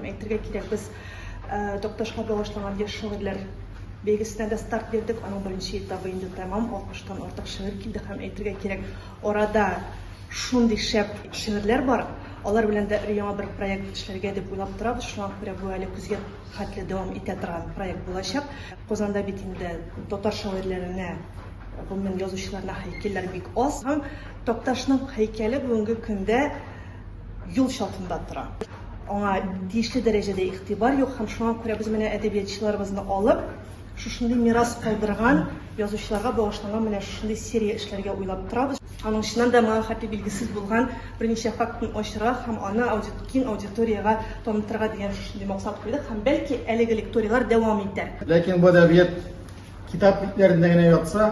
Әйтергә кирәк, без Такташка багышланган яшь шагыйрьләр бәйгесенә дә старт бирдек. Аның беренче этабы инде тәмам, 60 тан артык шигырь килде һәм, әйтергә кирәк, арада шундый шәп шигырьләр бар, алар белән дә өр-яңа бер проект эшләргә дип уйлап торабыз. Шуңа күрә бу әле көзгә хәтле дәвам итә торган проект булачак. Казанда бит инде татар шагыйрьләренә, гомумән, язучыларына һәйкәлләр бик аз һәм Такташның һәйкәле бүгенге көндә, юл чатында тора. Аңа тиешле дәрәҗәдә игътибар юк һәм шуңа күрә без менә әдәбиятчыларыбызны алып, шушындый мирас калдырган, язучыларга багышланган менә шушындый серия эшләргә уйлап торабыз. Аның чыннан да моңа хәтле билгесез булган берничә фактын ачырга һәм аны киң аудиториягә танытырга дигән шушындый максат куйдык һәм бәлки әлеге лекторияләр дәвам итәр. Ләкин бу әдәбият китап битләрендә генә ятса,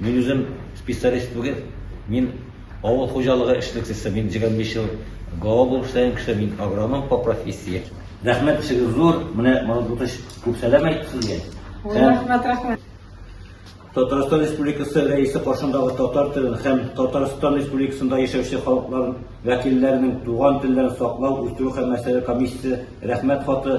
Мин үзем специалист түгел, мин авыл хуҗалыгы эшлеклесе, мин 25 ел гао булып эшләгән кеше, мин агроном по профессии. Рәхмәт, эшегез зур, менә Мордвтыч күп сәлам әйтте сезгә. Рәхмәт, рәхмәт. Татарстан Республикасы Рәисе каршындагы татар телен һәм Татарстан Республикасында яшәүче халыклар вәкилләренең туган телләрен саклау, үстерү һәм мәсьәләләр комиссиясе Рәхмәт хаты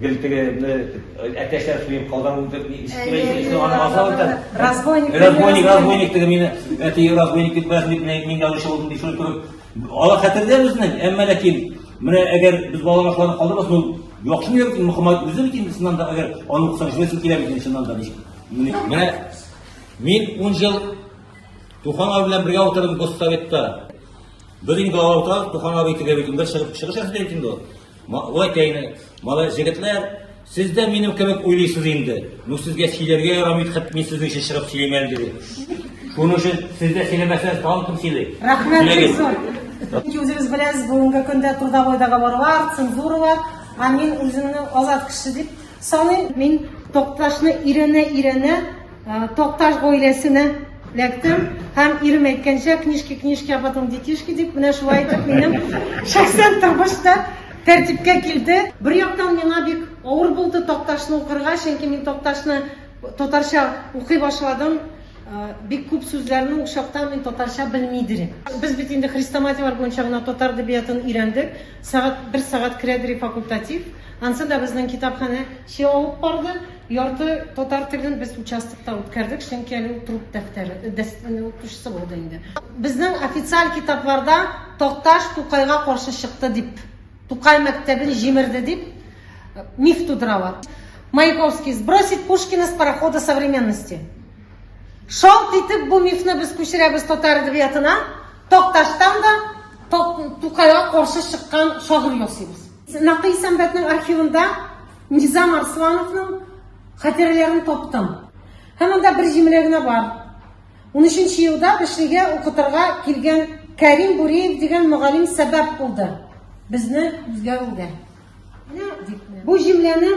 Гел теге әтәчләр суеп казан үтереп Разбойник разбойник разбойник теге мине әти разбойник дип бәс дип мин язучы булдым дип шуны күреп алар хәтердә безнең әмма ләкин менә әгәр без балаларга шуларны калдырмас ул яхшы микән бит мөхәммәд үзе бит инде чыннан да әгәр аны укысаң шулайсы килә бит чыннан да менә мин ун ел тухан абый белән бергә утырдым госсоветта без инде аларда тухан абый теге бит инде чыгып чыгыш ясады бит инде ул Малай тәйне, малай җегетләр, сез дә минем кебек уйлыйсыз инде. Ну сезгә сөйләргә ярамый, хәт мин сезнең өчен чыгып сөйлим әле диде. Шуның өчен сез дә сөйләмәсәгез, тагын кем сөйли? Рәхмәт бик зур. Чөнки үзегез беләсез, бүгенге көндә трудовойдагы барлар, цензуралар, а мин үземне азат кеше дип саныйм. Мин Токташны өйрәнә-өйрәнә Токташ гаиләсенә эләктем һәм ирем әйткәнчә книжки книжки а потом детишки дип менә шулай итеп минем шәхсән тормыш та тәртипкә килде бер яктан миңа бик авыр булды токташны укырга чөнки мин токташны татарча укый башладым э, бик күп сүзләрне ул чакта мин татарча белми идем без бит инде хрестоматияләр буенча гына татар әдәбиятын өйрәндек сәгать бер сәгать керә факультатив ансын да безнең китапханә чыгып барды Ярты татар телен без участокта үткәрдек, чөнки әле ул труд дәфтәре, дәфтәре укытучысы булды инде. Безнең официаль китапларда Такташ Тукайга каршы чыкты дип, Тукай мәктәбен җимерде дип миф тудыралар. Маяковский сбросить Пушкина с парохода современности. Шалт итеп бу мифны без күчерәбез татар әдәбиятына, Такташтан да Тукайга каршы чыккан шагыйрь ясыйбыз. Нәкый сәнбәтнең архивында Низам Арслановның хатирәләрен таптым. Һәм анда бер җимелә генә бар. 13 елда Бешлегә укытырга килгән Кәрим Буриев дигән мөгаллим сәбәп булды безне үзгәрүгә. Бу җимләне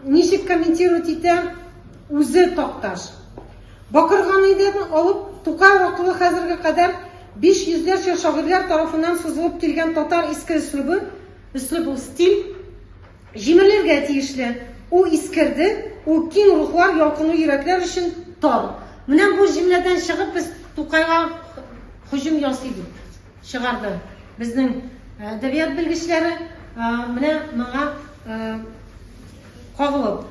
ничек комментировать итә үзе Такташ? Бакырган иден алып Тукай вакылы хәзерге кадәр биш йөзләрчә шагыйрьләр тарафыннан сузылып килгән татар иске өслүбе, өслүб ул стиль, җимерелергә тиешле, у искерде, у киң рухлар, ялкынлы йөрәкләр өчен тар. Менә бу җөмләдән чыгып без Тукайга һөҗүм ясый дип чыгарды безнең әдәбият белгечләре, менә моңа кагылып.